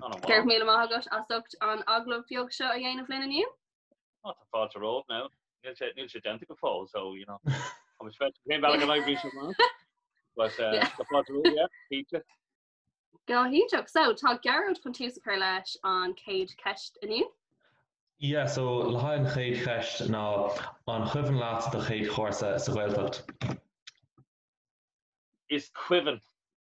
Go raibh míle maith agat as ucht an agallamh beag seo a dhéanamh linn inniu. Tá fáilte romhat now. Níl sé déanta go fóill so you know. Tá sé féin bhealach an oibrí seo maith. But uh, yeah. tá fáilte romhat, yeah, pizza. Go hiontach, so tá Gearóid chun tús a chur leis an céad ceist inniu. Ia, so le haghaidh an chéad cheist ná, an cuimhin leat do chéad chúrsa sa Ghaeltacht? Is cuimhin,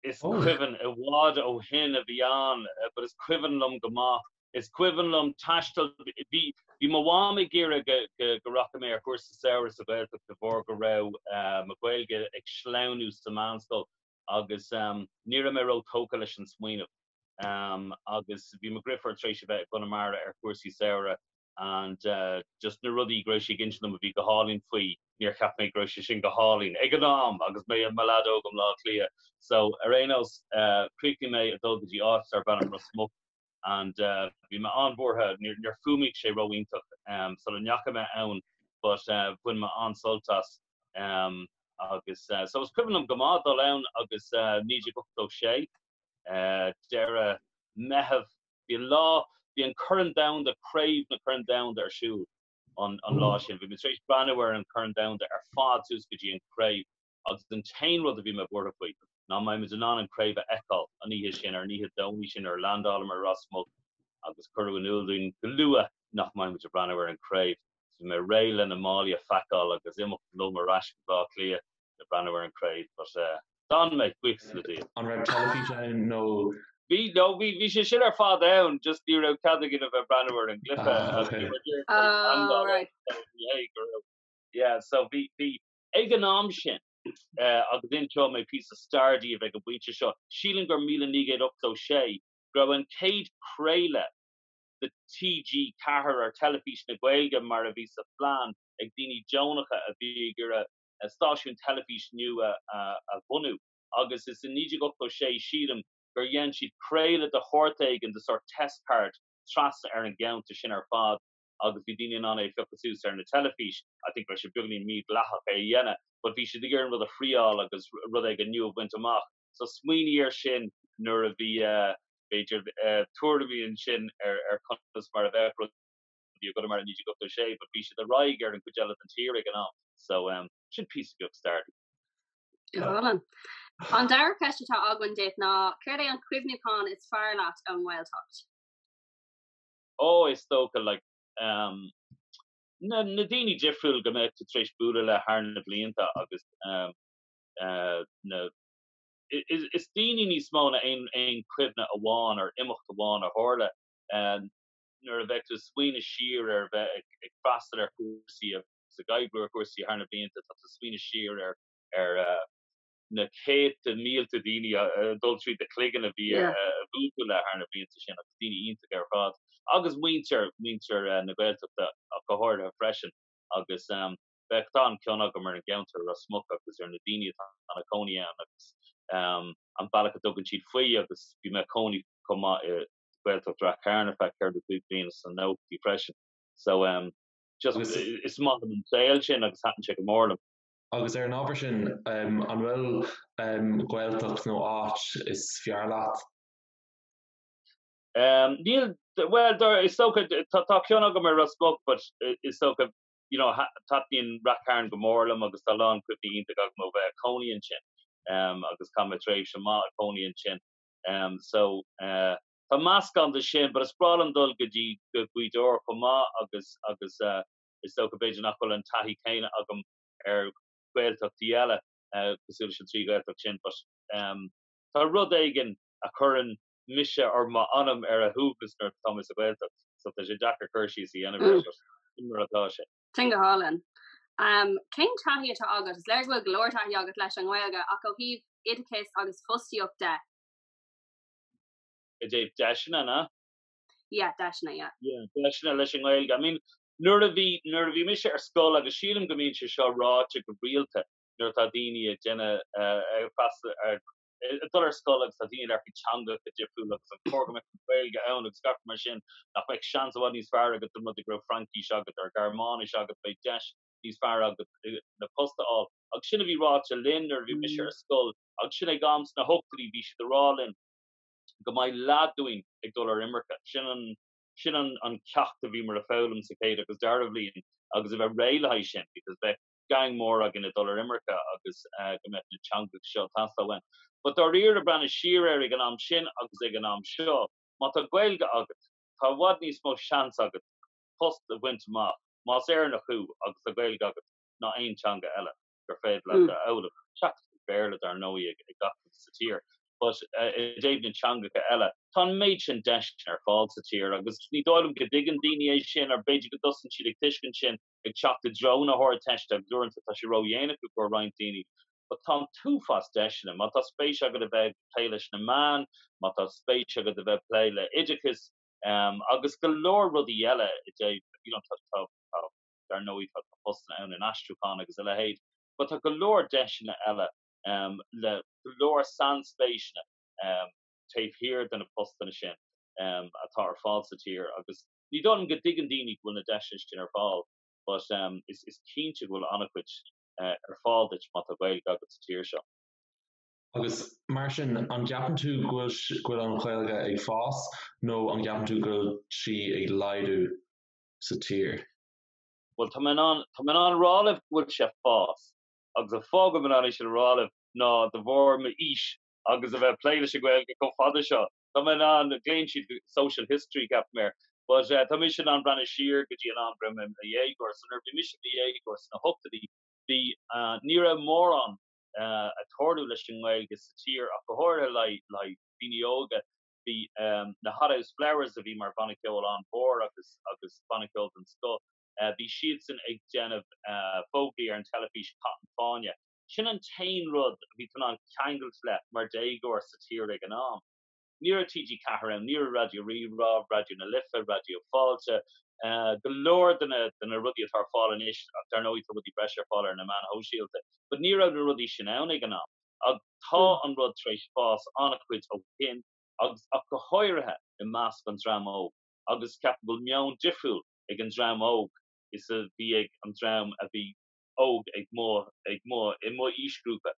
is cuimhin, i bhfad ó shin a bhí ann but is cuimhin liom go maith, is cuimhin liom taisteal, bhí, bhí mo mham ag iarraidh go, go, go rachadh mé ar chúrsa samhraidh sa Ghaeltacht de bharr go raibh mo Ghaeilge ag sleamhnú sa mheánscoil agus ní raibh mé ró-tógtha leis an smaoineamh agus bhí mo dhrifiúr tar éis a bheith i gConamara ar chúrsaí samhraidh and just na rudaí go raibh sí ag insint dom a bhí go hálainn faoi, níor cheap mé go raibh sé sin go hálainn ag an am agus mé i mo leaid óg i mBleá Cliath. So, ar aon nós, chríochnaigh mé ag dul go dtí áit darb ainm Ros Muc and bhí mé an-bhuartha, níor fhuaimnigh sé ró-iontach sula ndeachaigh mé ann but bhain mé an-sult as agus so is cuimhin liom go maith dul ann agus 1986, deireadh Meithimh Bhí an lá, bhí an Corn Domhanda, Craobh na Corn Domhanda ar siúl an lá sin. Bhí mé tar éis breathnú ar an Corn Domhanda ar fad suas go dtí an Craobh agus an t-aon rud a bhí mé buartha faoi ná an mbeidh muid in ann an Craobh a fheiceáil an oíche sin, ar an oíche Domhnaigh sin nuair a landálamar i Ros Muc agus cuireadh in iúl dúinn go luath nach mbeidh muid ag breathnú ar an Craobh. Bhí mé réidh le na málaí a phaiceáil agus imeacht liom ar ais go Blá Cliath le breathnú ar an Craobh but eh. d'fhan mé cúig lá déag. An raibh teilifís ann nó.? Bhí, no, bhí, bhí sé sin ar fad ann just ní raibh cead againn a bheith breathnú ar an gcluiche Ah, agus bhí okay. muid ar an Ah, seandálaíocht right. so b'fhéidir go raibh yeah so bhí, bhí ag an am sin eh agus inseoidh mé píosa stair daoibh ag an bpointe seo, sílim gur míle naoi gcéad ochtó sé go raibh an chéad craoladh, de TG4 or Teilifís na Gaeilge mar a bhí sa phlean ag daoine deonacha a bhí ag iarraidh stáisiún teilifís nua a bhunú agus is i 1986 sílim gur dhein siad craoladh de shórt éigin, de sort test card, trasna ar an gceantar sin ar fad agus bhí daoine in ann é a phiocadh suas ar na teilifís. I think go raibh sé beagáinín mídhleathach é a dhéanamh but bhí siad ag iarraidh an rud a thriáil agus rud éigin nua a bhaint amach. So smaoinigh ar sin nuair a bhí, b'fhéidir, tuairimí ansin ar conas mar a bheadh rudaí i gConamara i 1986 but bhí siad ar aghaidh ar an gcuid eile den tír ag an am. So sin píosa beag staire daoibh. Álainn. An dara ceist atá againn duit ná céard é an cuimhniúchán is fearr leat ón nGaeltacht? Oh is dócha like um na na daoine difriúil go mbeadh tú tar éis bualadh le thar na blianta agus um na. Is daoine níos mó ná aon chuimhne amháin ar imeacht amháin a tharla nuair a bheadh tú ag smaoineamh siar ar bheith ag freastal ar chúrsaí agus ag oibriú ar chúrsaí thar na blianta, tá tú ag smaoineamh siar ar na céadta, mílte daoine ag dul tríd do chloigeann a bhí buailte agat leo thar na blianta sin agus daoine iontacha ar fad agus muintir na Gaeltachta go háirithe freisin agus. beidh, tá an-chion agam ar an gceantar i Ros Muc agus ar na daoine atá ina cónaí ann agus an bealach a dtugann siad faoi agus bhí mé ag cónaí chomh maith i Gaeltacht Rath Cairn ar feadh ceithre nó cúig bliana sna nóchaidí freisin so em just is maith liom an saol sin agus thaitin sé go mór liom. Agus ar an ábhar sin, em an bhfuil em Gaeltacht nó áit is fearr leat? Em níl, bhuel dar, is dócha tá cion agam ar Ros Muc but is dócha you know, taitníonn Rath Cairn go mór liom agus tá a lán cuimhní iontacha agam ó bheith ag cónaí ansin agus chaith mé tréimhse mhaith ag cónaí ansin. So tá meascán de sin, but is breá liom dul go dtí go Gaoth Dobhair chomh maith agus agus is dócha b'fhéidir nach bhfuil an taithí chéanna agam ar Ghaeltachtaí eile cosúil leis an trí Ghaeltacht sin but tá rud éigin a chuireann mise or m'anam ar a shuaimhneas nuair atá mé sa Ghaeltacht so tá sé deacair cur síos a dhéanamh air but sin mar atá sé. Sin go hálainn. Cén taithí atá agat? Is léir go bhfuil go leor taithí agat leis an nGaeilge ach ó thaobh oideachais agus fostaíocht de? I dtaobh deiseanna, na? Yeah, deiseanna, yeah. Yeah, deiseanna leis an nGaeilge. I mean, nuair a bhí, nuair a bhí mise ar scoil agus sílim go mbíonn sé seo ráite go rialta nuair atá daoine ag déanamh, ag freastal ar, ag dul ar scoil agus tá daoine ag labhairt faoin teanga go difriúil agus an cóir go mbeadh an Ghaeilge ann agus gach rud mar sin, nach mbeadh seans i bhfad níos fearr agat dá mba rud go raibh Fraincis agat or Gearmáinis agat, beidh deis níos fearr agat ansin post a fháil. Agus sin a bhí ráite linn nuair a bhí mise ar scoil agus sin ag am sna hochtaidí bhí siad ag rá linn go mbeidh leath dínn ag dul ar imirce. Sin an sin an ceacht a bhí muid ag foghlaim sa chéad agus dara bhliain agus a bheith réidh le haghaidh sin because bheadh geaing mór againn ag dul ar imirce agus go mbeadh na teangacha seo ag teastáil uainn. But dáiríre, ag breathnú siar air ag an am sin agus ag an am seo, má tá Gaeilge agat, tá i bhfad níos mó seans agat post a bhaint amach, más Éireannach thú agus tá Gaeilge agat, ná aon teanga eile gur féidir leat a fhoghlaim, seachas an Béarla dar ndóigh ag gach duine sa tír. But i dtaobh na teangacha eile, tá an méid sin deiseanna ar fáil sa tír agus ní dóigh liom go dtuigeann daoine é sin, or b'fhéidir go dtosaíonn siad ag tuiscint sin, ag teacht i dtreo na hArdteiste agus uaireanta tá sé ró-dhéanach i gcóir roinnt daoine. But tá an t-uafás deiseanna. Má tá spéis agat a bheith ag plé leis na meáin, má tá spéis agat a bheith ag plé le oideachas agus go leor rudaí eile i dtaobh, you know, tá, tá, tá, dar ndóigh tá postanna ann in aistriúchán agus a leithéid but tá go leor deiseanna eile le go leor sainspéiseanna taobh thiar de na postanna sin atá ar fáil sa tír agus Ní dóigh liom go dtuigeann daoine go bhfuil na deiseanna sin ar fáil but is cinnte go bhfuil an-chuid ar fáil duit má tá Gaeilge agat sa tír seo. Agus mar sin, an gceapann tú go bhfuil an Ghaeilge ag fás nó an gceapann tú go bhfuil sí ag laghdú sa tír? Bhuel, tá mé in ann a rá libh go bhfuil sé ag fás. Agus an fáth go bhfuil mé in ann é sin a rá libh ná de bharr m'aois agus a bheith ag plé leis an Ghaeilge chomh fada seo. Tá mé in ann, glaonn siad social history gap mé, but tá mise in ann breathnú siar go dtí an am go raibh mé i mo dhéagóir. So nuair a bhí mise i mo dhéagóir sna hochtaidí, bhí, ní raibh mórán a' tarlú leis an nGaeilge sa tír ach go háirithe le haghaidh daoine óga. Bhí na Hothouse Flowers a bhí mar bhanna ceoil an-mhór agus, agus banna ceoil den scoth, bhí siadsan ag déanamh fógraí ar an teilifís, Caith an Fáinne. Sin an t-aon rud a bhí tú in ann ceangailt le mar déagóir sa tír ag an am. Ní raibh TG4 ann, ní raibh Raidió Rí-Rá, Raidió na Life, Raidió Fáilte, go leor de na de na rudaí atá ar fáil anois ach dar ndóigh tá rudaí breise ar fáil ar na meáin shóisialta but ní raibh na rudaí sin ann ag an am agus tá an rud tar éis fás an-chuid ó shin agus ach go háirithe i measc an dream óg agus ceapaim go bhfuil meon difriúil ag an dream óg is a bhí ag an dream a bhí óg ag mo, ag mo, i mo aoisghrúpa,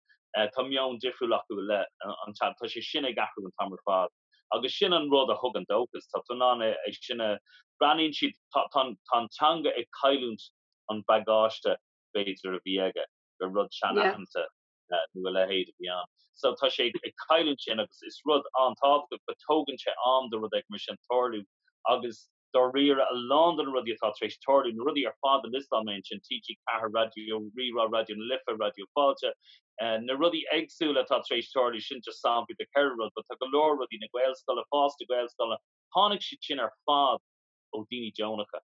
tá meon difriúil acu le an, tá sé sin ag athrú an t-am ar fad agus sin an rud a thugann dóchas, tá tú in ann é sin a, breathnaíonn siad, tá, tá, tá an teanga ag cailliúint an bagáiste b'fhéidir a bhí aige, gur rud seanaitheanta nó a leithéid a bhí ann. So tá sé ag cailliúint sin agus is rud an-tábhachtach but tógann sé am do rud éigin mar sin tarlú agus, dáiríre, a lán de na rudaí atá tar éis tarlú, na rudaí ar fad a liostáil mé ansin, TG4, Raidió Rí-Rá, Raidió na Life, Raidió Fáilte, na rudaí éagsúla atá tar éis tarlú, sin just samplaí de cheithre rud, but tá go leor rudaí, na Gaelscoileanna, fás na Gaelscoileanna, tháinig siad sin ar fad ó dhaoine deonacha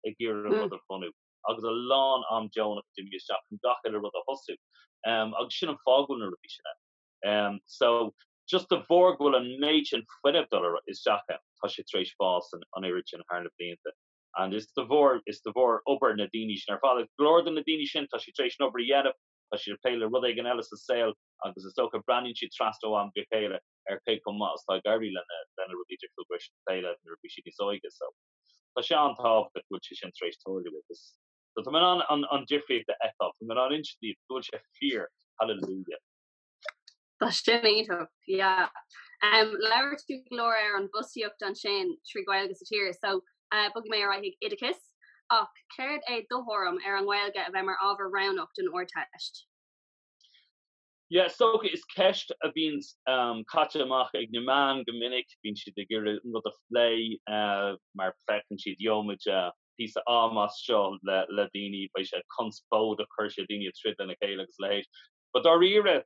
ag iarraidh rud a bhunú agus a lán am deonach a d'imigh isteach chun gach uile rud a thosú agus sin an fáth go bhfuil na rudaí sin ann. So. just de bharr go bhfuil an méid sin fuinnimh ag dul isteach ann, tá sé tar éis fás an oiread sin thar na blianta and is de bharr, is de bharr obair na daoine sin ar fad agus go leor de na daoine sin tá siad tar éis an obair a dhéanamh, tá siad ag plé le rud éigin eile sa saol agus is dócha breathnaíonn siad trasna ó am go céile ar cé chomh maith is atá ag éirí lena, lena rudaí difriúla go raibh siad ag plé le nuair a bhí siad níos óige so tá sé an-tábhachtach go bhfuil sé sin tar éis tarlú agus so tá mé in ann an, an difríocht a fheiceáil, tá mé in ann insint daoibh go bhfuil sé fíor, hallelujah. Tá sin iontach, yeah. Em, labhair tú go leor ar an bhfostaíocht ansin trí Ghaeilge sa tír, so bhogfaidh mé ar aghaidh chuig oideachas. Ach céard é do thuairim ar an nGaeilge a bheith mar ábhar roghnach don Ardteist? Yeah, is dócha, is ceist a bhíonn caite amach ag na meáin go minic, bíonn siad ag iarraidh an rud a phlé mar feiceann siad Gheobhaimid píosa am as seo le daoine, beidh sé conspóideach, cuirfidh sé daoine ag troid lena chéile agus a leithéid. But dáiríre,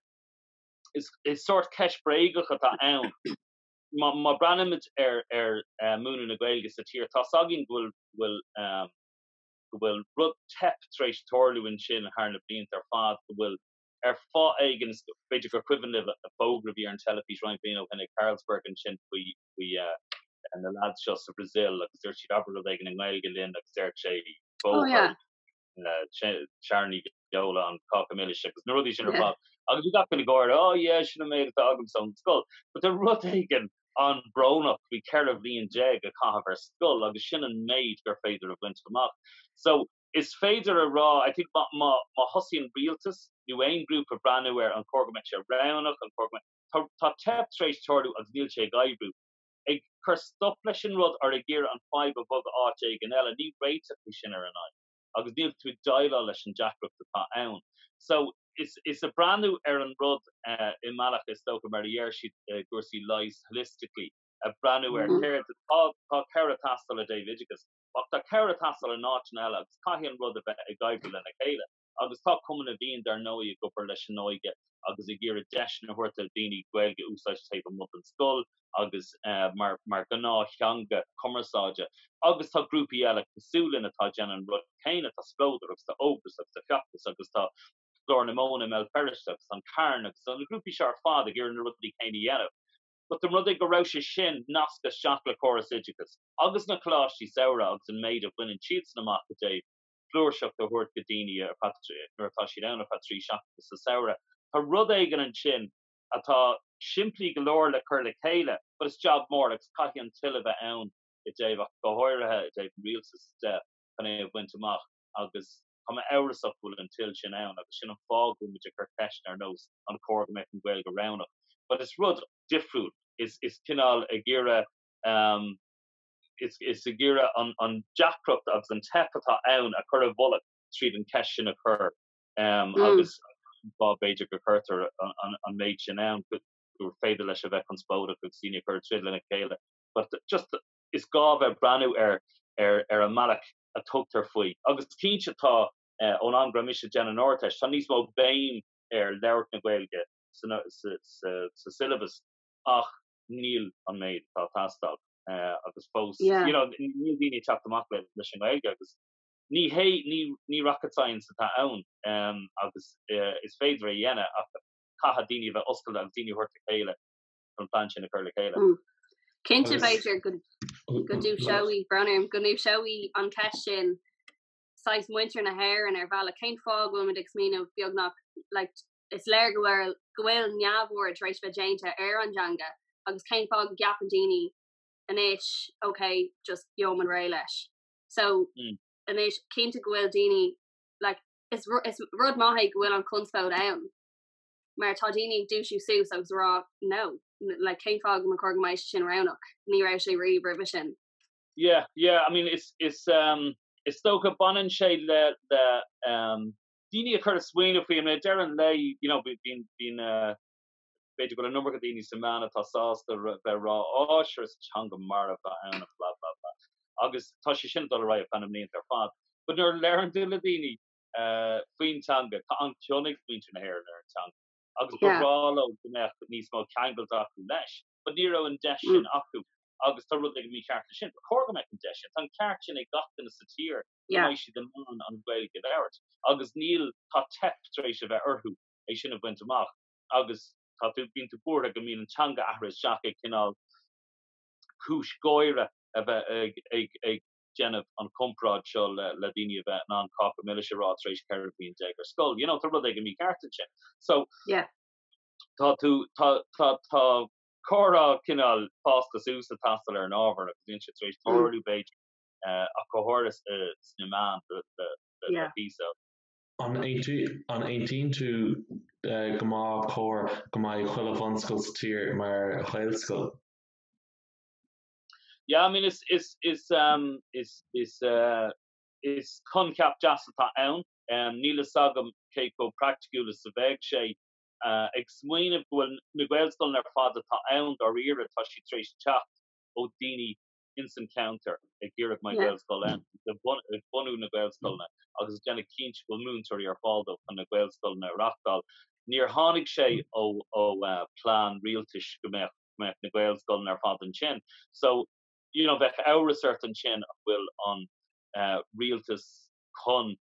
is sórt ceist bhréagach atá ann. Má breathnaímid ar mhúineadh na Gaeilge sa tír, tá's againn go bhfuil rud teip tar éis tarlú ansin thar na blianta ar fad, go bhfuil, ar fáth éigin, b'fhéidir gur cuimhin libh an fógra a bhí ar an teilifís roinnt blianta ó shin ag Carlsberg ansin faoi na leaids seo sa Bhrasaíl agus dúirt siad 'abair rud éigin i nGaeilge linn' agus dúirt sé 'bóthar'. Sharon Ní Bheoláin, cáca milis agus na rudaí sin ar fad. Agus bhí gach duine ag gáire, oh yeah, sin an méid atá agamsa ón scoil. But tá rud éigin an-bhrónach faoi 14 bhliain a chaitheamh ar scoil agus sin an méid gur féidir a bhaint amach. So, is féidir a rá, I think, má, má, má thosaíonn rialtas nó aon ghrúpa ag breathnú ar an cóir go mbeadh sé roghnach, an cóir go mbeadh, tá, tá teip tar éis tarlú agus níl sé ag oibriú. ag cur stop leis an rud ar ag iarraidh an fhadhb a bhogadh áit éigin eile, ní réiteach é sin ar an fhadhb agus níl tú ag déileáil leis an deacracht atá ann. So, is ag breathnú ar an rud i mbealach, is dócha, mar a deir siad i gcúrsaí leighis, holistically, ag breathnú ar céard atá, tá cabhair ag teastáil i dtaobh oideachais, ach tá cabhair ag teastáil in áiteanna eile agus caithfidh an rud a bheith ag oibriú lena chéile. agus tá Cumann na bhFiann, dar ndóigh, ag obair leis an óige agus ag iarraidh deiseanna a thabhairt do dhaoine Gaeilge a úsáid taobh amuigh den scoil agus mar ghnáth-theanga cumarsáide. Agus tá grúpaí eile cosúil linn atá ag déanamh an rud céanna, tá Splódar agus tá Ógras agus tá Feachtas agus tá Glór na Móna i mBéal Feirste agus tá an Carn agus tá na grúpaí seo ar fad ag iarraidh na rudaí céanna a dhéanamh. But an rud é mura bhfuil sé sin nasctha isteach le córas oideachais, agus na coláistí samhraidh agus an méid a bhaineann siadsan amach i dtaobh, flúirseacht a thabhairt go daoine nuair atá siad ann ar feadh trí seachtaine sa samhradh. Tá rud éigin ansin atá simplí go leor le cur le chéile but is job mór agus caithfidh an toil a bheith ann i dtaobh ach go háirithe i dtaobh an rialtas de chun é a bhaint amach agus tá mé amhrasach go bhfuil an toil sin ann agus sin an fáth go bhfuil muid ag cur ceisteanna ar nós an cóir go mbeadh an Ghaeilge roghnach but is rud difriúil is cineál ag iarraidh Is ag iarraidh an deacracht agus an teip atá ann a chur i bhfolach tríd an cheist sin a chur agus b'fhéidir go gcuirtear an méid sin ann gur féidir leis a bheith conspóideach agus daoine a chur tríd lena chéile. But just is gá a bheith ag breathnú ar ar an mbealach a dtugtar faoi agus cinnte tá ón am go raibh mise ag déanamh an Ardteist tá níos mó béim ar labhairt na Gaeilge sa sa sa sa syllabus ach níl an méid atá ag teastáil agus fós, you know, níl daoine ag teacht amach leis an nGaeilge agus ní, ní rocket science atá ann agus is féidir é a dhéanamh ach caithfidh daoine a bheith oscailte agus daoine a thabhairt le chéile chun an plean sin a chur le chéile. Cinnte, b'fhéidir go ndúiseoidh, brón orm, go ndúiseoidh an cheist sin saghas muintir na hÉireann ar bhealach, cén fáth a bhfuil muid ag smaoineamh beagnach, like, Is léir go bhfuil neamhaird tar éis bheith déanta ar an dteanga agus cén fáth go gceapann daoine anois ok just gheobhaimid réidh leis. So anois cinnte go bhfuil daoine like is rud maith é go bhfuil an chonspóid ann mar tá daoine ag dúisiú suas agus ag rá no like cén fáth go mba chóir go mbeadh sé sin roghnach, ní raibh sé riamh roimhe sin. Yeah yeah I mean is is um is dócha baineann sé le le um daoine a chur ag smaoineamh faoi, I mean, ar deireadh an lae, you know, bíonn, bíonn, b'fhéidir go bhfuil an iomarca daoine sna meáin atá sásta a bheith ag rá, Á, sure is teanga marbh atá ann blah, blah, blah. Agus tá sé sin ag dul ar aghaidh feadh na mblianta ar fad. But nuair a labhraíonn tú le daoine faoin teanga, tá an-chion ag muintir na hÉireann ar an teanga, agus ba bhreá leo go mbeadh níos mó ceangailt acu leis. But ní raibh an deis sin acu, agus tá rud éigin mícheart leis sin. Ba chóir go mbeadh an deis sin. Tá an ceart sin ag gach duine sa tír. go mbeadh siad in ann an Ghaeilge a labhairt. Agus níl, tá teip tar éis a bheith orthu é sin a bhaint amach. Agus tá tú, bíonn tú buartha go mbíonn an teanga athraithe isteach i gcineál cúis gáire a bheith ag, ag, ag déanamh an chomparáid seo le, le daoine a bheith in ann cáca milis a rá tar éis 14 bhliain ar scoil. You know, tá rud éigin mícheart ansin. So, tá tú, tá, tá, tá comhrá cineál fásta suas ag teastáil ar an ábhar agus bíonn sé tar éis tarlú, b'fhéidir, ach go háirithe sna meáin le píosa. An aontaíonn tú go mba chóir go mbeadh chuile bhunscoil sa tír mar Ghaelscoil? Yeah, I mean is is is um is is uh is coincheap deas atá ann. Níl fhios agam cé chomh praiticiúil is a bheidh sé. Ag smaoineamh go bhfuil na Gaelscoileanna ar fad atá ann dáiríre tá siad tar éis teacht ó daoine ins an cheantar ag iarraidh go mbeadh Gaelscoil ann ag bunú na Gaelscoileanna agus ag déanamh cinnte go bhfuil múinteoirí ar fáil dóibh chun na Gaelscoileanna a reachtáil. Níor tháinig sé ó ó plean rialtais go mbeadh go mbeadh na Gaelscoileanna ar fad ansin. So you know bheadh amhras ort ansin an bhfuil an rialtas chun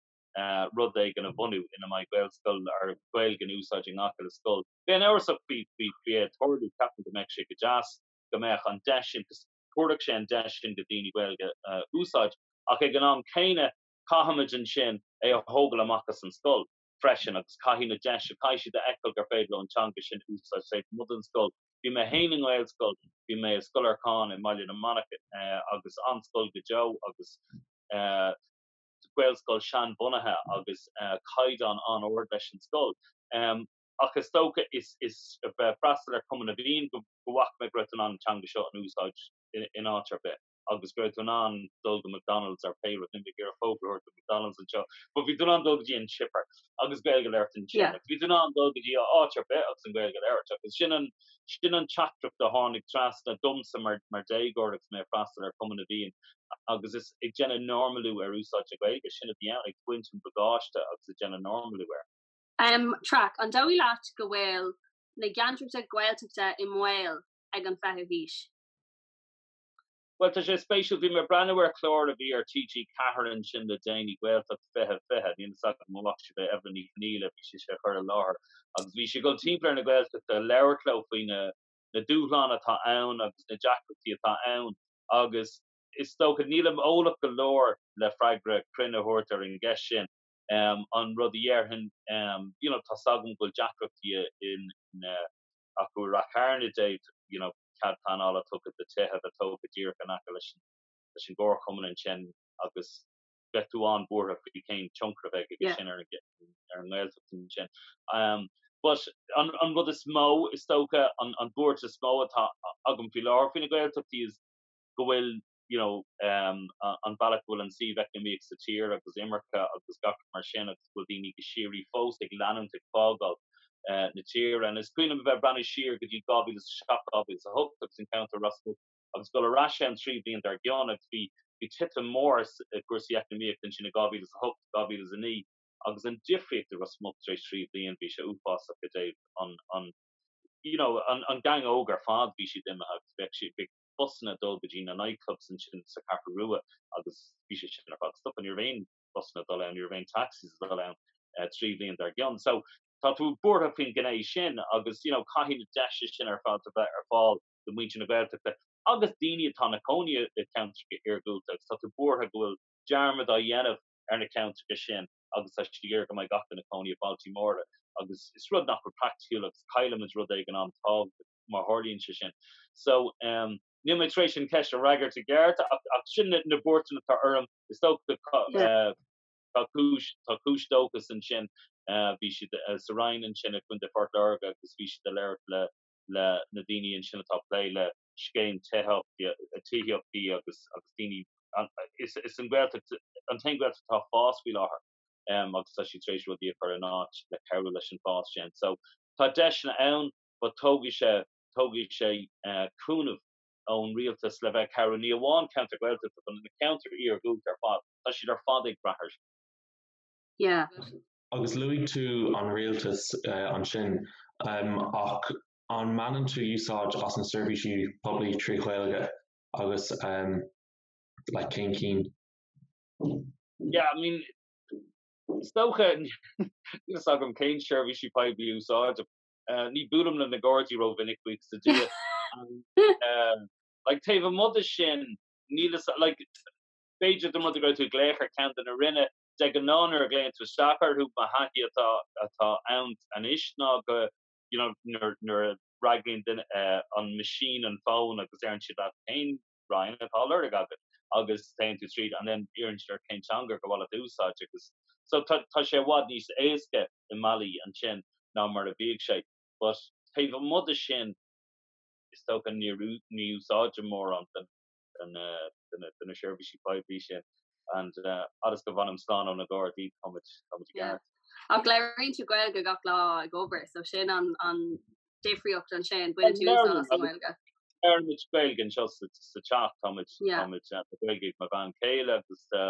rud éigin a bhunú ina mbeidh Gaelscoil or Gaeilge in úsáid i ngach uile scoil. Bheinn amhrasach faoi faoi é ag tarlú. Ceapaim go mbeadh sé go deas. go mbeadh an deis sin, cos tabharfadh sé an deis sin do daoine Gaeilge a úsáid, ach ag an am céanna caithfimid ansin é a thógáil amach as an scoil freisin agus caithfidh na deis, caithfidh siad a fheiceáil gur féidir leo an teanga sin a úsáid taobh amuigh den scoil. Bhí mé féin i nGaelscoil, bhí mé i Scoil Lorcáin i mBaile na Manach agus an-scoil go deo agus Gaelscoil seanbhunaithe agus caighdeán an-ard leis an scoil. ach is dócha is ag freastal ar Chumann na bhFiann go bhfaca mé go raibh tú in ann an teanga seo a úsáid in áit ar bith agus go raibh tú in ann dul go McDonald's or pé rud, níl mé ag iarraidh fógra a thabhairt do McDonald's anseo, but bhí tú in ann dul go dtí an chipper agus Gaeilge a labhairt ansin yeah agus bhí tú in ann dul go dtí áit ar bith agus an Ghaeilge a labhairt agus sin an, sin an teachtaireacht a tháinig trasna domsa mar, mar déagóir agus mé ag freastal ar Chumann na bhFiann agus is ag déanamh normalú ar úsáid na Gaeilge, sin a bhí ann, ag baint an bagáiste agus ag déanamh normalú air. Traic, An dóigh leat go bhfuil na gceantracha Gaeltachta i mbaol ag an fichiú haois? Bhuel, tá sé spéisiúil, bhí mé ag breathnú ar chlár a bhí ar TG4 ansin le déanaí, Gaeltacht 2020, níl fhios agam an bhfaca sibh é, Eibhlín Ní Chonghaile bhí sí á chur i láthair agus bhí sí ag dul timpeall ar na Gaeltachta ag labhairt leo faoi na na dúshláin atá ann agus na deacrachtaí atá ann agus is dócha, nílim eolach go leor le freagra cruinn a thabhairt ar an gceist sin. an rud a déarfainn. You know, tá 's agam go bhfuil deacrachtaí in, acu i Ráth Chairn i dtaobh, you know, cead pleanála tugtha do tithe a bheith tógtha díreach in aice leis an, leis an gcomharchumann ansin agus bheadh tú an-bhuartha faoi cén tionchar a bheidh aige sin ar an, ar an nGaeltacht ansin. But an, an rud is mó is dócha, an, an bhuairt is mó atá agam faoi láthair faoi na Gaeltachtaí is go bhfuil, you know, an bealach go bhfuil an suíomh eacnamaíoch sa tír agus imirce agus gach rud mar sin agus go bhfuil daoine go síoraí fós ag leanúint ag fágáil na tíre and is cuimhin liom a bheith ag breathnú siar go dtí 2007 2008 agus i gceantar Ros Muc agus dul ar ais ann trí bhliain dár gcionn agus bhí bhí titim mór i gcúrsaí eacnamaíochta ansin i 2008 2009 agus an difríocht i Ros Muc tar éis trí bhliain bhí sé uafásach i dtaobh an an you know an an gang óg ar fad bhí siad imithe agus bhíodh siad bhíodh busanna dul go dtí na night clubs ansin sa Cheathrú Rua agus bhí sé sin ar fad stoptha, ní raibh aon bhusanna ag dul ann, ní raibh aon taxis ag dul ann trí bhliain dár gcionn. So tá tú buartha faoin gné sin agus you know caithfidh na deiseanna sin ar fad a bheith ar fáil do mhuintir na Gaeltachta agus daoine atá ina gcónaí i gceantracha iargúlta agus tá tú buartha go bhfuil dearmad á dhéanamh ar na ceantracha sin agus tá siad ag iarraidh go mbeidh gach duine ina gcónaí i mbailtí móra agus is rud nach bhfuil praiticiúil agus caillfimid rud éigin an-tábhachtach. má tharlaíonn sé sin. So, em, níl mé tar éis an ceist a fhreagairt i gceart ach, ach sin na, na buairteanna atá orm. Is dócha tá, eh, tá cúis, tá cúis dóchas ansin. Eh, bhí siad, eh, sa Rinn ansin i gContae Phort Láirge agus bhí siad ag labhairt le, le na daoine ansin atá ag plé le scéim tithíochta, eh, tithíochtaí agus, agus daoine an, is, is an Ghaeltacht an t-aon Ghaeltacht atá ag fás faoi láthair. Em, agus tá siad tar éis rudaí a chur in áit le cabhrú leis an bhfás sin. So, tá deiseanna ann. but tógfaidh sé, tógfaidh sé cúnamh ón rialtas le bheith cabhrú, ní amháin ceantar Gaeltachta but na ceantair iargúlta ar fad, tá siad ar fad ag brath ar sin. Yeah. Agus luaigh tú an rialtas ansin, ach an mbaineann tú úsáid as na seirbhísí poiblí trí Ghaeilge agus like cén cinn? Yeah, I mean, is dócha, níl fhios agam cén seirbhísí poiblí a úsáidim. Ní buailim le na gardaí rómhinic buíochas le Dia ach like taobh amuigh de sin níl fhios a'm like b'fhéidir dá mba rud é go gcuirfidh tú glaoch ar cheann de na Roinne de ghnáth nuair a ghlaonn tú isteach orthu mo thaithí atá atá ann anois ná go you know nuair nuair a fhreagraíonn duine an machine an fón agus iarrann siad leat cén Roinn atá á lorg agat agus téann tú tríd and then iarrann siad ort cén teanga gur mhaith leat a úsáid agus so tá tá sé i bhfad níos éasca i mbealaí ansin ná mar a bhíodh sé but taobh amuigh de sin is dócha níor ní úsáidim mórán den den eh, de na de na seirbhísí poiblí sin and eh, fhad is go bhfanaim slán ó na Gardaí táimid táimid i Yeah. gceart. Ach léiríonn tú Gaeilge gach lá ag obair, so sin an, an difríocht ansin, baineann tú úsáid as an nGaeilge. Deirimid Gaeilge anseo sa teach, tá Gaeilge ag mo bhean chéile agus tá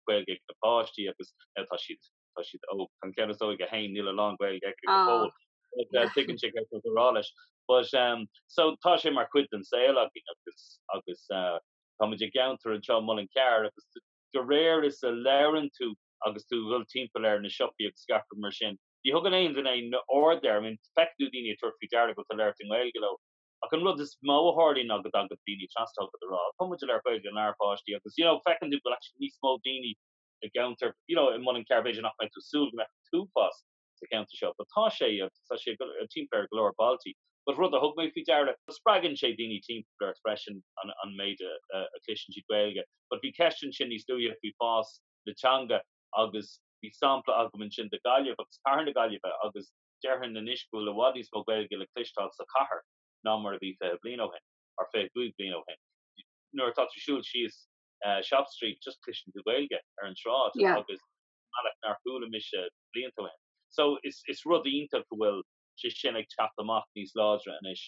Gaeilge ag na páistí agus tá siad tá siad óg, tá an ceann is óige féin, níl a lán Gaeilge aici go fóill, ach tuigeann sé céard atáimid ag rá leis. But so tá sé mar chuid den saol againn agus agus táimid i gceantar anseo, Muileann gCearr, agus de réir is a labhrann tú agus tú ag dul timpeall ar na siopaí agus gach rud mar sin, Ní thugann aon duine aon aird air, I mean, feiceann tú daoine ag tabhairt faoi deara go bhfuil tú ag labhairt i nGaeilge leo, ach an rud is mó a tharlaíonn ná go dtagann daoine trasna chugat ag rá, 'Ó, tá muid ag labhairt Gaeilge lenár bpáistí, agus, you know, feiceann tú go bhfuil actually níos mó daoine i gceantar, you know, Muileann gCearr, b'fhéidir nach mbeadh tú ag súil go mbeadh an t-uafás sa cheantar seo, but tá sé, agus tá sé timpeall ar go leor bailtí. But rud a thug mé faoi deara, spreagann sé daoine timpeall ort freisin an méid a chloiseann siad Gaeilge, but bhí ceist ansin níos luaithe faoi fás na teanga agus, Bhí sampla agam ansin de Gaillimh agus cathair na Gaillimhe agus déarfainn anois go bhfuil i bhfad níos mó Gaeilge le cloisteáil sa chathair ná mar a bhí fiche bliain ó shin, or fiche cúig bliain ó shin. Nuair atá tú ag siúl síos Shop Street, just cloiseann tú Gaeilge ar an tsráid Yeah. ar bhealach nár chuala mise blianta ó shin. So is is rud iontach go bhfuil sé sin ag teacht amach níos láidre anois.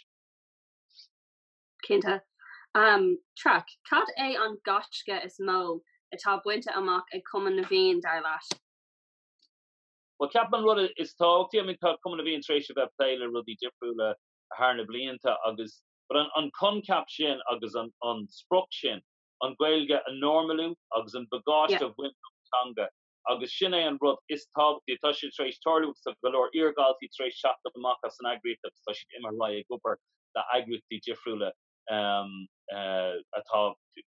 Cinnte. Traic, cad é an gaisce is mó atá bainte amach ag Cumann na bhFiann, dar leat? Bhuel, ceapaim an rud is tábhachtaí, I mean, tá Cumann na bhFiann tar éis a bheith ag plé le rudaí difriúla thar na blianta agus, but an coincheap sin agus an sprioc sin, an Ghaeilge a normalú agus an bagáiste a bhaint den teanga, agus sin é an rud is tábhachtaí. Tá sé tar éis tarlú agus tá go leor iar-dhaltaí tar éis teacht amach as an eagraíocht agus tá siad imithe ar aghaidh ag obair le heagraíochtaí difriúla atá,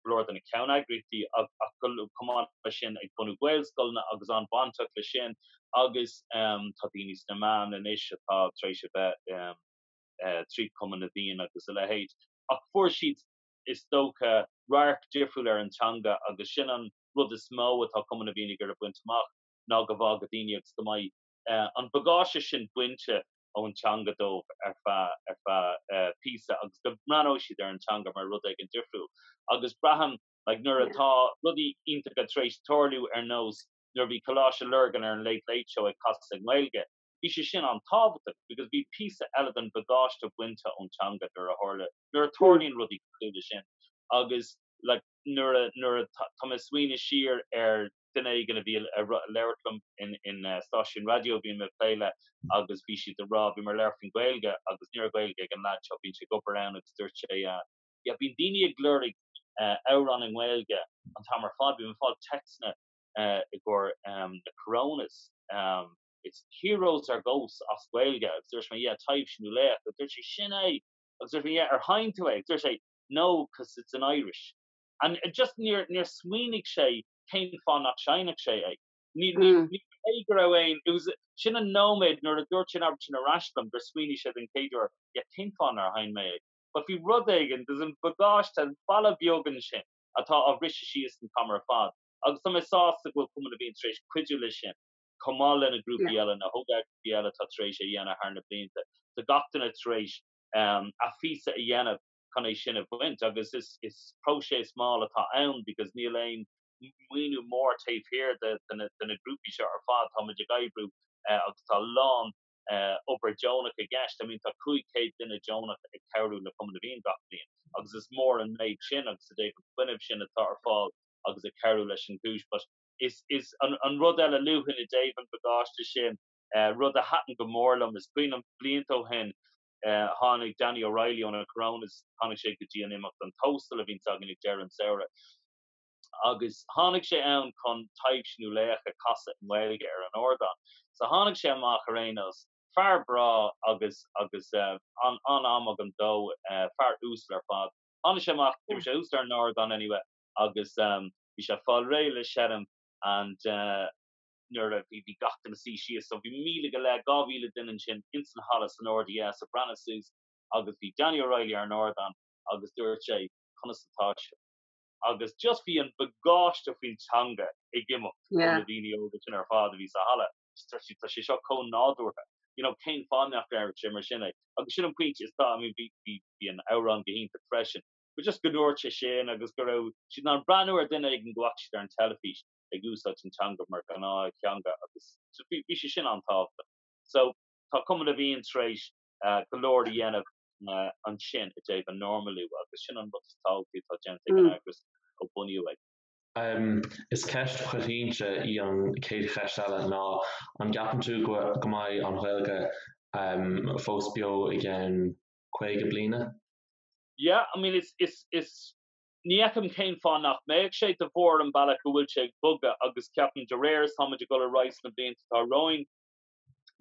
go leor de na ceann-eagraíochtaí ach chomh maith le sin, ag bunú Gaelscoileanna agus an-bhainteach leis sin agus tá daoine sna meáin anois atá tar éis a bheith tríd Cumann na bhFiann agus a leithéid. Ach fuair siad, is dócha, radharc difriúil ar an teanga agus sin an. rud is mó atá Cumann na bhFiann ag iarraidh a bhaint amach ná go bhfágfaidh daoine agus go mbeidh an bagáiste sin bainte ón teanga dóibh ar feadh píosa agus go mbreathnóidh siad ar an teanga mar rud éigin difriúil agus braithim like nuair atá rudaí iontacha tar éis tarlú ar nós nuair a bhí Coláiste Lurgan ar an Late Late Show ag casadh i nGaeilge Bhí sé sin an-tábhachtach because bhí píosa eile den bhagáiste bainte ón teanga nuair a tharla, nuair a tharlaíonn rudaí cosúil leis sin agus like nuair a, nuair a, tá mé ag smaoineamh siar ar duine éigin a bhí ag labhairt liom in, in stáisiún raidió a bhí mé ag plé le agus bhí siad ag rá, bhí mé ag labhairt faoin Ghaeilge agus ní raibh Gaeilge ag an leaid seo, a bhíonn ag obair ann agus dúirt sé ah yeah bíonn daoine ag lorg eh amhrán i nGaeilge an t-am ar fad, bím ag fáil téacsanna eh i gcomhair ehm na Coronas ehm. It's heroes ar ghosts as Gaeilge. Agus dúirt mé, Yeah, taibhse nó laoch. Agus dúirt sé, Sin é! Agus dúirt mé, Yeah, ar sheinn tú é? Agus dúirt sé, No, 'cause it's in Irish. And it just, níor, níor smaoinigh sé cén fáth nach seinnfeadh sé é. Ní, ní, ní hé go raibh aon, it was, sin an nóiméad nuair a dúirt sé an abairtín sin ar ais liom gur smaoinigh sé den chéad uair, Yeah, cén fáth nár sheinn mé é? But bhí rud éigin, just an bagáiste, an balla beag ansin atá á bhriseadh síos an t-am ar fad. Agus tá mé sásta go bhfuil Cumann na bhFiann tar éis cuidiú leis sin. chomh maith leis na grúpaí eile, na hóg-ghrúpaí eile atá tar éis é a dhéanamh thar na blianta. Tá gach duine tar éis a phíosa a dhéanamh chun é sin a bhaint agus is próiseas mall atá ann because níl aon maoiniú mór taobh thiar de na grúpaí seo ar fad. Tá muid ag oibriú agus tá a lán obair deonach i gceist. I mean tá 500 duine deonach ag cabhrú le Cumann na bhFiann gach bliain agus is mór an méid sin agus i dtaobh an fuinnimh sin atá ar fáil agus ag cabhrú leis an gcúis but Is an rud eile a luaigh tú i dtaobh an bagáiste sin, rud a thaitin go mór liom. Is cuimhin liom blianta ó shin tháinig Danny O'Reilly ó na Coronas, tháinig sé go dtí an imeacht An Tóstal a bhíonn againn ag deireadh an samhraidh agus tháinig sé ann chun Taibhse nó Laoch a chasadh i nGaeilge ar an ardán. So tháinig sé amach ar aon nós, fear breá agus agus an-am agam dó, fear uasal ar fad. Tháinig sé amach, bhí sé thuas ar an ardán anyway agus. bhí sé ag fáil réidh le seinm and nuair a, bhí, bhí gach duine suí síos so bhí míle go leith, dhá mhíle duine ansin ins an halla san RDS ag breathnú suas agus bhí Danny O'Reilly ar an ardán agus dúirt sé conas atá sibh? Agus just bhí an bagáiste faoin teanga ag imeacht ó na daoine óga sin ar fad a bhí sa halla just dúirt siad tá sé seo chomh nádúrtha you know cén fáth nach ndéarfadh sé mar sin é agus sin an pointe is tá, I mean bhí, bhí, bhí an amhrán go hiontach freisin. but just go ndúirt sé sin agus go raibh siad in ann breathnú ar duine éigin a bhfaca siad ar an teilifís ag úsáid an teanga mar ghnáth-theanga agus so bhí bhí sé sin an-tábhachtach. So tá Cumann na bhFiann tar éis go leor a dhéanamh ansin i dtaobh an normalú agus sin an rud is tábhachtaí atá déanta ag an eagras ó bunaíodh é. Is ceist choitianta í an chéad cheist eile ná an gceapann tú go mbeidh an Ghaeilge fós beo i gceann 50 bliana? Yeah, I mean is, is, is, ní fheicim cén fáth nach mbeadh sé, de bharr an bealach a bhfuil sé ag bogadh agus ceapaim de réir is táimid ag dul ar aghaidh sna blianta atá romhainn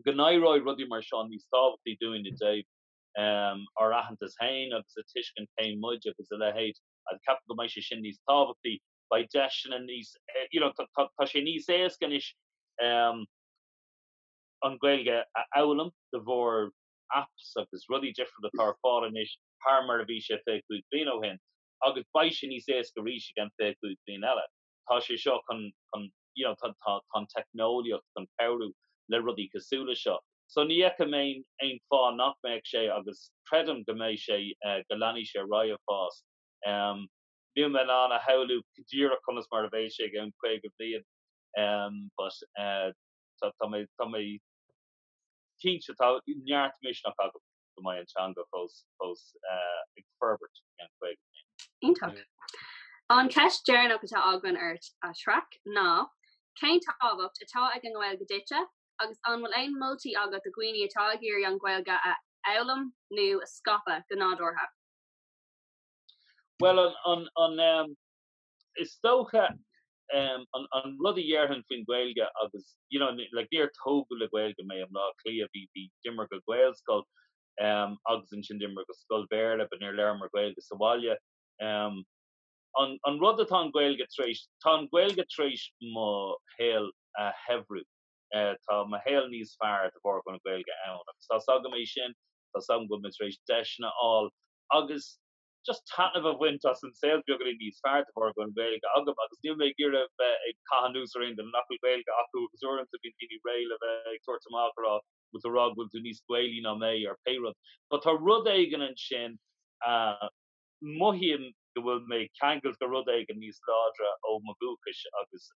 go n-éireoidh rudaí mar seo níos tábhachtaí dúinn i dtaobh ehm ár aitheantas féin agus ag tuiscint cé muid agus a leithéid agus ceapaim go mbeidh sé sin níos tábhachtaí, beidh deiseanna níos eh you know tá tá tá sé níos éasca anois ehm an Ghaeilge a fhoghlaim de bharr apps agus rudaí difriúla atá ar fáil anois thar mar a bhí sé 25 bliain ó shin agus beidh sé níos éasca arís i gceann 25 bliain eile. Tá sé seo chun chun you know chun chun tá an teicneolaíocht chun cabhrú le rudaí cosúil le seo. So ní fheicim aon aon fáth nach mbeadh sé agus creidim go mbeidh sé eh go leanfaidh sé ar aghaidh ag fás. Em níl mé in ann a shamhlú go díreach conas mar a bheidh sé i gceann 50 bliain em but eh tá tá mé tá mé Cinnte, tá neart misneach agam go mbeidh an teanga fós fós ag forbairt i gceann caoga bliain. Iontach. An cheist deireanach atá againn ort, a Traic, ná, cén tábhacht atá ag an nGaeilge duitse agus an bhfuil aon moltaí agat do dhaoine atá ag iarraidh an Ghaeilge a fhoghlaim nó a scaipeadh go nádúrtha? Bhuel, an. is dócha an rud a dhéarfainn faoin Ghaeilge agus you know like níor tógadh le Gaeilge mé i mBlá Cliath bhí bhí d'imigh mé go Gaelscoil agus ansin d'imigh mé go scoil Bhéarla but níor labhraíomar Gaeilge sa bhaile an an rud atá an Ghaeilge tar éis tá an Ghaeilge tar éis mo shaol a shaibhriú tá mo shaol níos fearr de bharr go bhfuil an Ghaeilge ann agus tá a fhios agam é sin tá a fhios agam go bhfuil mé tar éis deiseanna a fháil agus just taitneamh a bhaint as an saol beagánín níos fearr de bharr go bhfuil an Ghaeilge agam agus níl mé ag iarraidh bheith ag caitheamh anuas ar aon duine nach bhfuil Gaeilge acu agus uaireanta bíonn daoine réidh le bheith ag tabhairt amach a rá bhfuil tú a rá go bhfuil tú níos Gaelaí ná mé or pé rud. But tá rud éigin ansin a mothaím go bhfuil mé ceangailte le rud éigin níos láidre ó mo dhúchas agus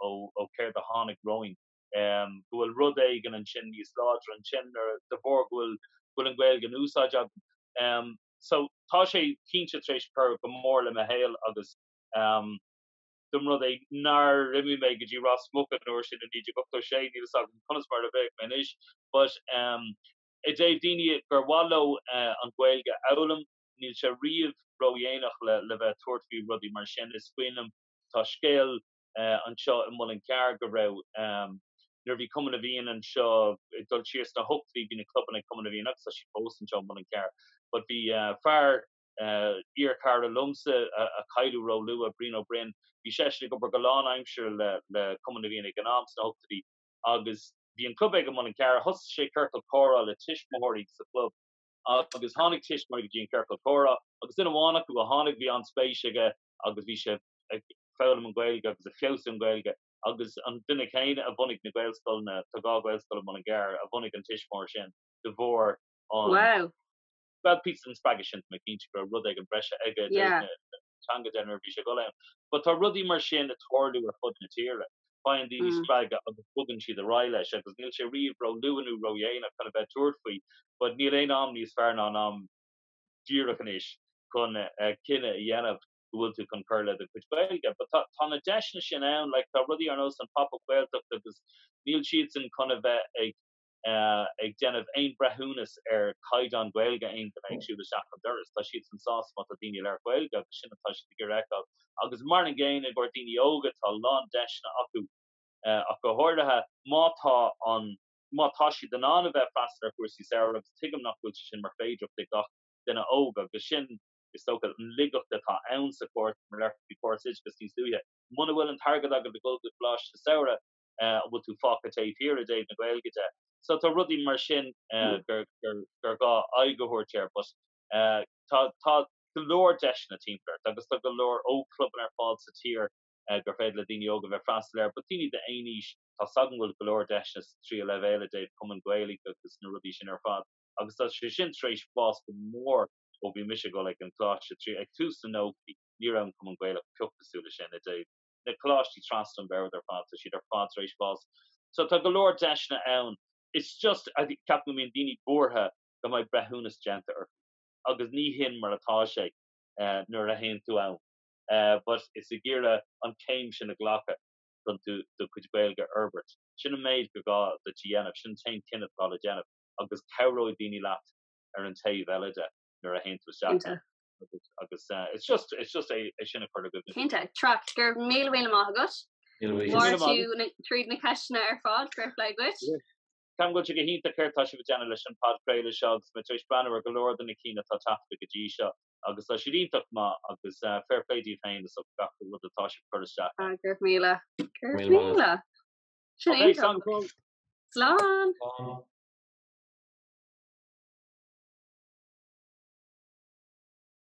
ó céard a tháinig romhainn. go bhfuil rud éigin ansin níos láidre ansin nuair a, de bharr go bhfuil, go bhfuil an Ghaeilge in úsáid agam. So tá sé cinnte tar éis cur go mór le mo shaol agus dá mba rud é nár imigh mé go dtí Ros Muc an uair sin i 1986, níl a fhios agam conas mar a bheadh mé anois. But i dtaobh daoine gur mhaith leo an Ghaeilge a fhoghlaim, níl sé riamh ródhéanach le bheith ag tabhairt faoi rudaí mar sin. Is cuimhin liom, tá scéal anseo i Muileann Cearr go raibh nuair a bhí Cumann na bhFiann anseo ag dul siar sna hochtaidí bhí na clubanna ag Cumann na bhFiann agus tá siad fós anseo i Muileann Cearr but bhí fear iar chara liomsa a cailleadh róluath Brian Ó Broin bhí seisean ag obair go lánaimseartha le le Cumann na bhFiann ag an am sna hochtaidí agus bhí an club aige i Muileann Cearr thosaigh sé ciorcal comhrá le tuismitheoirí sa chlub agus tháinig tuismitheoirí go dtí an ciorcal comhrá agus duine amháin acu a tháinig bhí an-spéis aige i agus bhí sé ag foghlaim an Ghaeilge agus ag feabhsú an Ghaeilge agus an duine céanna a bhunaigh na Gaelscoileanna, tá dhá Ghaelscoil i Mullingar, a bhunaigh an tuismóir sin de bharr an, bhuel píosa den spreagadh sin tá mé cinnte go raibh rud éigin breise aige i dtaobh na teanga de nuair a bhí sé ag dul ann. But tá rudaí mar sin ag tarlú ar fud na tíre, faigheann daoine spreagadh agus bogann siad ar aghaidh leis agus níl sé riamh ró luath nó ró dhéanach chun a bheith ag tabhairt faoi but níl aon am níos fearr ná an am díreach anois chun cinneadh a dhéanamh go bhfuil tú chun cur le do chuid Gaeilge. But tá tá na deiseanna sin ann, like tá rudaí ar nós an Pop Up Gaeltacht agus níl siadsan chun a bheith ag ag déanamh aon breithiúnas ar chaighdeán Gaeilge aon duine ag siúl isteach an doras. Tá siadsan sásta má tá daoine ag labhairt Gaeilge agus sin atá siad ag iarraidh a fheiceáil. Agus mar an gcéanna i gcomhair daoine óga, tá a lán deiseanna acu ach go háirithe má tá an Má tá siad in ann a bheith freastal ar chúrsaí samhraidh, agus tuigim nach bhfuil sé sin mar féidearthacht ag gach duine óg, agus sin is dócha an laigeacht atá ann sa chúirt, mar labhair tú faoi chóras oideachas níos luaithe, muna bhfuil an t-airgead agat le dhul go coláiste samhraidh, an bhfuil tú fágtha taobh thiar i dtaobh na Gaeilge de? So tá rudaí mar sin gur gur gá aghaidh a thabhairt air, but tá tá go leor deiseanna timpeall ort, agus tá go leor ógchlubanna ar fáil sa tír gur féidir le daoine óga bheith freastal air, but daoine d'aon aois. tá a fhios agam go bhfuil go leor deiseanna sa tríú leibhéal i dtaobh Cumann Gaelach agus na rudaí sin ar fad agus tá sé sin tar éis fás go mór ó bhí mise ag dul ag an gcoláiste trí ag tús na nóchaidí, ní raibh an Cumann Gaelach pioc cosúil leis sin i dtaobh na coláistí trasna an bhoird ar fad, tá siad ar fad tar éis fás so tá go leor deiseanna ann it's just ceapaim go mbíonn daoine buartha go mbeidh breithiúnas déanta orthu agus ní hin mar atá sé nuair a théann tú ann but is ag iarraidh an céim sin a ghlacadh. chun tú do chuid Gaeilge a fhorbairt. Sin an méid gur gá duit a dhéanamh, sin an t-aon chinneadh atá le déanamh, agus cabhróidh daoine leat ar an taobh eile de nuair a théann tú isteach ann. Agus it's just, it's just é sin a chur i gcuimhne. Cinnte, Traic, go raibh míle míle maith agat. Fuair tú tríd na ceisteanna ar fád, fair play dhuit. Ceapaim go bhfuil sé go hiontach céard tá sibh ag déanamh leis an podchraoladh seo agus mé tar éis breathnú ar go leor de na cinn atá taifeadta go dtí seo agus tá siad iontach maith agus fair play daoibh féin is do gach rud atá sibh ag cur isteach ann. Go raibh míle. Go raibh míle. Sin é. Slán.